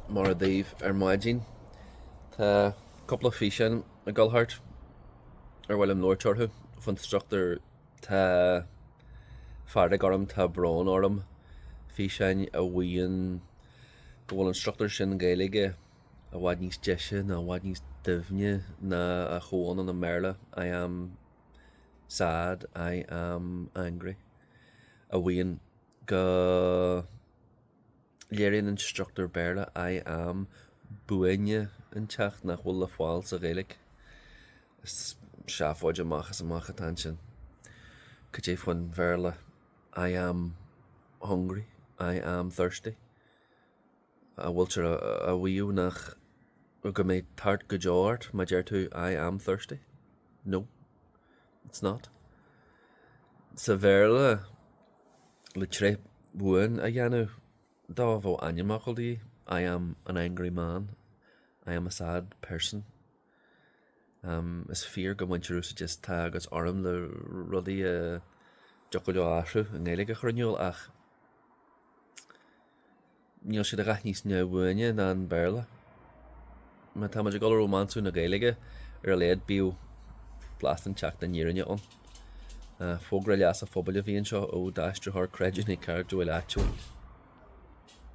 Mora daoibh ar maidin, tá cúpla físeán ag dul thart ar mhaith liom labhairt orthu faoin struchtúr tá fearg orm, tá brón orm, físeáin a mhaíonn go bhfuil an struchtúr sin Gaeilge i bhfad níos deise nó i bhfad níos doimhne ná a comhionann i mBéarla, I am. Sad, I am angry, a mhaíonn go léiríonn an struchtúr Béarla I am buaine inteacht nach bhfuil le fáil sa Ghaeilge. Is seafóid amach is amach atá ansin. Cad é faoin Bhéarla I am hungry, I am thirsty? An bhfuiltear a mhaíomh nach ach go mbeidh tart go deo ort má deir tú I am thirsty? No. It's not. Sa Bhéarla, le tréith bhuan a dhéanamh de, bheadh ainmfhocal de dhíth, I am an angry man, I am a sad person. Is fíor go mbaintear úsáid as tá agus orm le rudaí a dtiocfadh leo athrú i nGaeilge a chur in iúl ach. Níl siad a dhath níos neamhbhuaine ná an Béarla. Má táimid ag dul a rómánsú na Gaeilge ar a laghad bíodh blas inteacht den fhírinne ann. Fógra leasa pobail a bhí anseo ó d'aistritheoir creidiúnaithe cairdiúil áitiúil.